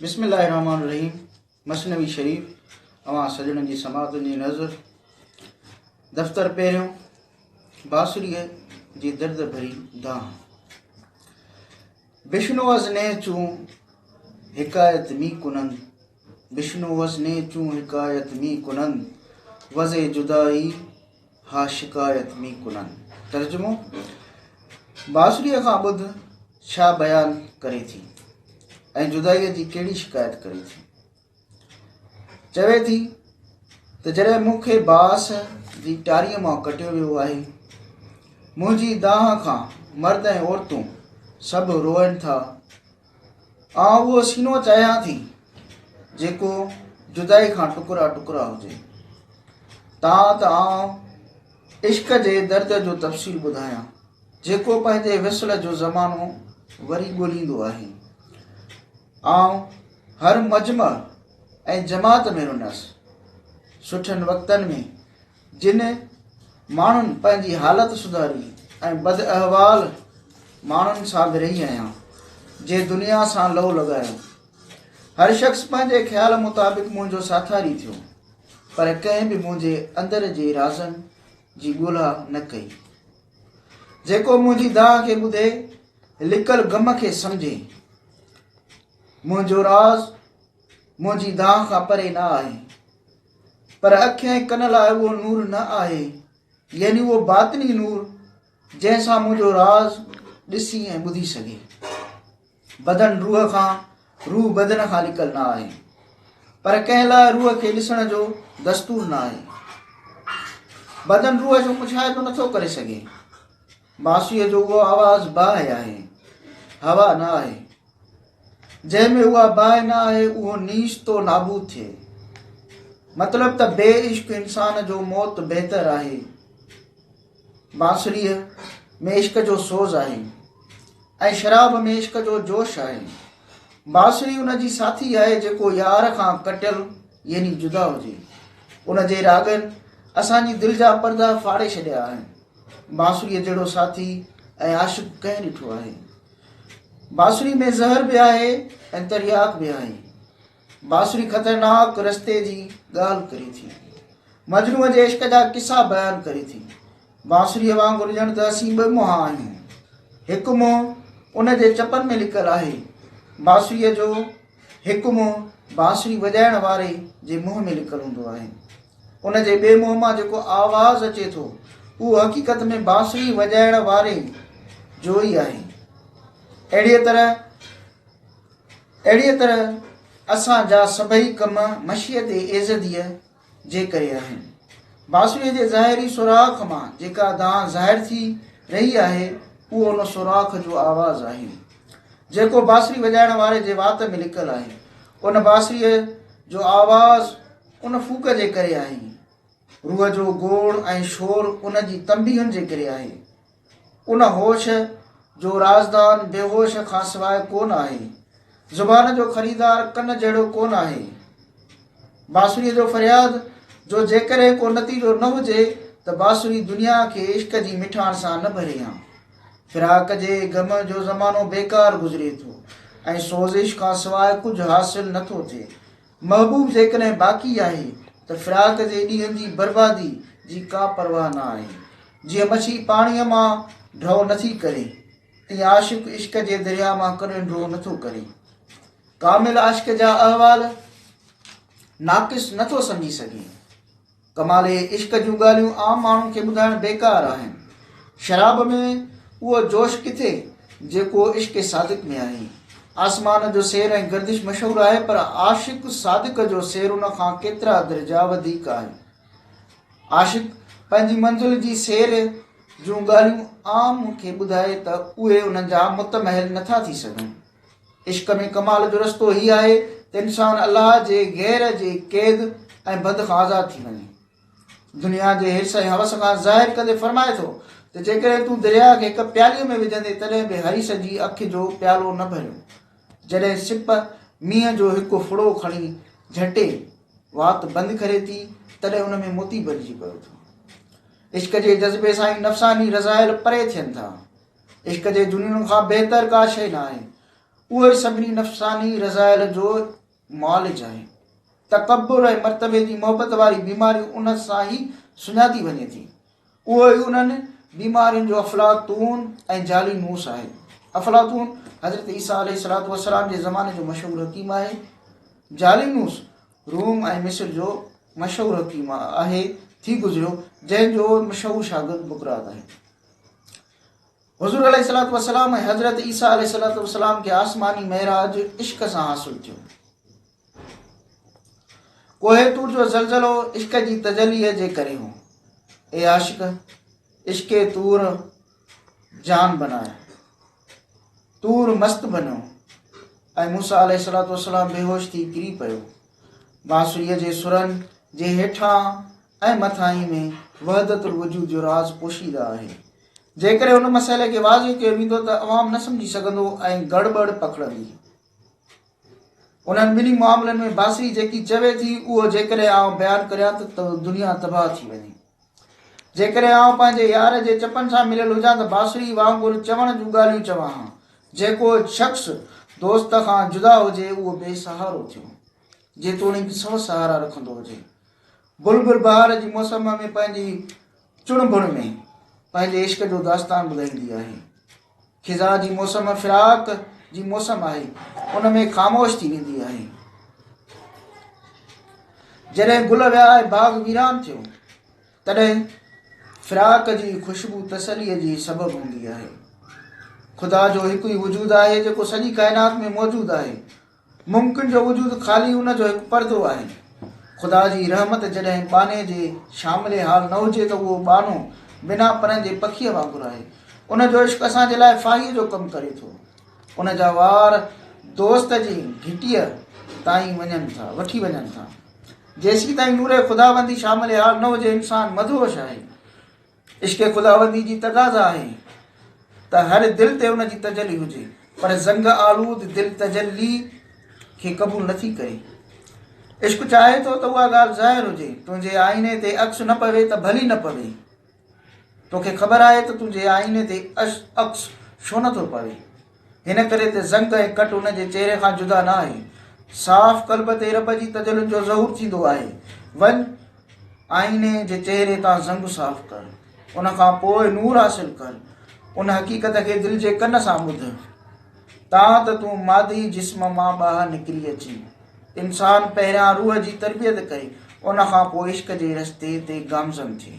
بسم الله الرحمٰن الرحيم مثنوي شريف اوهان سڄڻن جي سماعتن جي نذر دفتر پهريون باسريء جي درد ڀري دانهن بشنو از نئي چون حڪايت مي ڪنن بشنو از نئي چون حڪايت مي ڪنن وزي جدائي ها شڪايت مي ڪنن. ترجمو، بانسريء کان ٻڌ ڇا بيان ڪري ٿي ۽ جدائيء جي ڪهڙي شڪايت ڪري ٿي. چوي ٿي ته جڏهن مون کي باس جي ٽاريء مان ڪٽيو ويو آهي، منهنجي دانهن کان مرد ۽ عورتون سڀ روئن ٿا آئون اهو سينو چاهيان ٿي جيڪو جدائي کان ٽڪرا ٽڪرا هجي تان ته آئون عشق جي درد جو تفصيل ٻڌايان جيڪو پنهنجي وصل جو زمانو وري ڳوليندو آهي آئون هر مجمع ۽ جماعت ۾ رنس سٺن وقتن ۾ جن ماڻهن پنهنجي حالت سڌاري ۽ بداحوال ماڻهن سان به رهي آهيان جي دنيا سان لئو لڳايو. هر شخص پنهنجي خيال مطابق منهنجو ساٿاري ٿيو پر ڪنهن به منهنجي اندر جي رازن جي ڳولها نه ڪئي. جيڪو منهنجي دانهن کي ٻڌي لڪل غم کي سمجهي. منهنجو راز منهنجي دانهن کان پري نه آهي پر اک ۽ ڪن لاء اهو نور نه آهي، يعني اهو باطني نور جنهن سان منهنجو راز ڏسي ۽ ٻڌي سگهي. بدن روح کان، روح بدن کان نڪل نه آهي، پر ڪنهن لاء روح کي ڏسڻ جو دستور نه آهي. بدن روح جو مشاهدو نٿو ڪري سگهي. ماسيء جو اهو آواز باهه آهي، هوا نه آهي. جنهن ۾ اها باهه نه آهي اهو نيش تو نابود ٿئي. مطلب ته بي عشق انسان جو موت بهتر آهي. بانسريء ۾ عشق جو سوز آهي ۽ شراب ۾ عشق جو جوش آهي. بانسري ان جي ساٿي آهي جيڪو يار کان ڪٽيل يعني جدا هجي. ان جي راڳن اسان جي دل جا پردا ڦاڙي ڇڏيا آهن. بانسريء جهڙو ساٿي ۽ عاشق ڪنهن ڏٺو آهي؟ بانسري ۾ زهر به آهي ۽ ترياق به آهي. بانسري خطرناڪ رستي جي ڳالهه ڪري ٿي. مجنوء جي عشق جا قصا بيان ڪري ٿي. بانسريء وانگر ڄڻ ته اسين ٻه منهن آهيون. هڪ منهن ان جي چپن ۾ لڪل آهي. بانسريء جو هڪ منهن بانسري وڄائڻ واري جي منهن ۾ لڪل هوندو آهي. ان جي ٻئي منهن مان جيڪو آواز اچي ٿو، اهو حقيقت ۾ بانسري وڄائڻ واري جو ئي آهي. اهڙيء طرح اهڙيء طرح اسان جا سڀئي ڪم مشيت ايزديء جي ڪري آهن. باسويء جي ظاهري سوراخ مان جيڪا دانهن ظاهر ٿي رهي آهي، اهو ان سوراخ جو آواز آهي، جيڪو باسري وڄائڻ واري جي وات ۾ لڪل آهي. ان باسريء جو آواز ان ڦوڪ جي ڪري آهي. روح جو گوڙ ۽ شور ان جي تنبيهن جي ڪري آهي. ان هوش جو رازدان بيهوش کانسواء ڪون آهي. زبان جو خريدار ڪن جهڙو ڪون آهي. بانسريء جو فرياد جو جيڪڏهن ڪو نتيجو نه هجي ته بانسري دنيا کي عشق جي مٺاڻ سان نه ڀري ها. فراق جي غم جو زمانو بيڪار گذري ٿو ۽ سوزش کانسواء ڪجهه حاصل نه ٿو ٿئي. محبوب جيڪڏهن باقي آهي ته فراق جي ڏينهن جي بربادي جي ڪا پرواهه نه آهي. جيئن مڇي پاڻيء مان ڍؤ نٿي ڪري، تيئن عاشق عشق جي درياء مان ڪڏهن ڍؤ نٿو ڪري. ڪامل عاشق جا احوال ناقص نٿو سمجهي سگهي. ڪمال اهي عشق جون ڳالهيون عام ماڻهن کي ٻڌائڻ بيڪار آهن. شراب ۾ اهو جوش ڪٿي جيڪو عشق صادق ۾ آهي. آسمان جو سير ۽ گردش مشهور آهي پر عاشق صادق جو سير ان کان ڪيترا درجا وڌيڪ آهي. عاشق پنهنجي منزل جي سير جون ڳالهيون عام کي ٻڌائي ته اهي ان جا متمحل نٿا ٿي سگهن. عشق ۾ ڪمال جو رستو هي آهي ته انسان الله جي غير جي قيد ۽ بند کان آزاد ٿي وڃي دنيا جي حرس ۽ حوس کان ظاهر ڪندي فرمائي ٿو ته جيڪڏهن تون درياء کي هڪ پيالي ۾ وجهندي تڏهن به حريس جي اک جو پيالو نه ڀريو جڏهن سپ مينهن جو هڪ ڦڙو کڻي جهٽي وات بند ڪري ٿي تڏهن ان ۾ موتي بنجي پيو ٿو عشق جي جذبي سان ئي نفساني رضائل پري ٿين ٿا عشق جي دنيون کان بهتر ڪا شيء نه آهي اهو ئي سڀني نفساني رضائل جو معالج آهي تڪبر ۽ مرتبي جي محبت واري بيماري ان سان ئي سڃاتي وڃي ٿي اهو ئي انهن بيمارين جو افلاطون ۽ جالي نوس آهي افلاطون حضرت عيسيٰ عليه السلام وسلام جي زماني جو مشهور حڪيم آهي جالي نوس روم ۽ مصر جو مشهور حڪيم آهي ٿي گذريو جنهن جو مشهور شاگرد بڪرات آهي حضور عليه الصلوۃ والسلام ۽ حضرت عيسيٰ عليه الصلوۃ والسلام کي آسماني معراج عشق سان حاصل ٿيو کوهه تور جو زلزلو عشق جي تجلي جي ڪري هو اي عاشق عشق تور جان بنايا تور مست بنو اي موسا عليه الصلوۃ والسلام بيهوش ٿي ڪري پيو بانسري جي سرن جي هيٺان ۽ مٿاهين ۾ وحدت الوجود جو راز پوشيده آهي. جيڪڏهن ان مسئلي کي واضح ڪيو ويندو ته عوام نه سمجهي سگهندو ۽ گڙٻڙ پکڙندي. انهن ٻنهي معاملن ۾ باصري جيڪي چوي ٿي اهو جيڪڏهن آئون بيان ڪريان ته دنيا تباهه ٿي وڃي. جيڪڏهن آئون پنهنجي يار جي چپن سان مليل هجان ته باصري وانگر چوڻ جون ڳالهيون چوان ها. جيڪو شخص دوست کان جدا هجي اهو بي سهارو ٿيو. جيتوڻيڪ سو سهارا رکندو هجي. بلبل بهار جي موسم ۾ پنهنجي چڻ بڻ ۾ پنهنجي عشق جو داستان ٻڌائيندي آهي. خزان جي موسم فراق جي موسم آهي ان ۾ خاموش ٿي ويندي آهي. جڏهن گل ويا ۽ باغ ويران ٿيو تڏهن فراق جي خوشبو تسلي جي سبب هوندي آهي خدا جو هڪ ئي وجود آهي جيڪو سڄي ڪائنات ۾ موجود آهي ممڪن جو وجود خالي ان جو هڪ پردو آهي. خدا جي رحمت جڏهن ٻانهي جي شامل حال نه هجي ته اهو ٻانهو بنا پرن جي پکيء وانگر آهي. ان جو عشق اسان جي لاء ڦاهيء جو ڪم ڪري ٿو. ان جا وار دوست جي گهٽيء تائين وڃن ٿا، وٺي وڃن ٿا. جيسيتائين نور خداوندي شامل حال نه هجي انسان مدهوش آهي. عشق خداوندي جي تقاضا آهي ته هر دل تي ان جي تجلي هجي، پر زنگ آلود دل تجلي کي قبول نه ٿي ڪري. عشق چاهي ٿو ته اها ڳالهه ظاهر هجي، تنهنجي آئيني تي عڪس نه پوي ته ڀلي نه پوي. توکي خبر آهي ته تنهنجي آئيني تي عڪس ڇو نه ٿو پوي؟ هن ڪري ته زنگ ۽ ڪٽ هن جي چهري کان جدا نه آهي. صاف قلب تي رب جي تجلين جو ظهور ٿيندو آهي. وڃ آئيني جي چهري تان زنگ صاف ڪر. ان کان پوء نور حاصل ڪر. ان حقيقت کي دل جي ڪن سان ٻڌ. تان ته تون مادي جسم مان ٻاهر نڪري اچين. انسان پهريان روح جي تربيت ڪري، ان کان پوء عشق جي رستي تي گامزن ٿئي.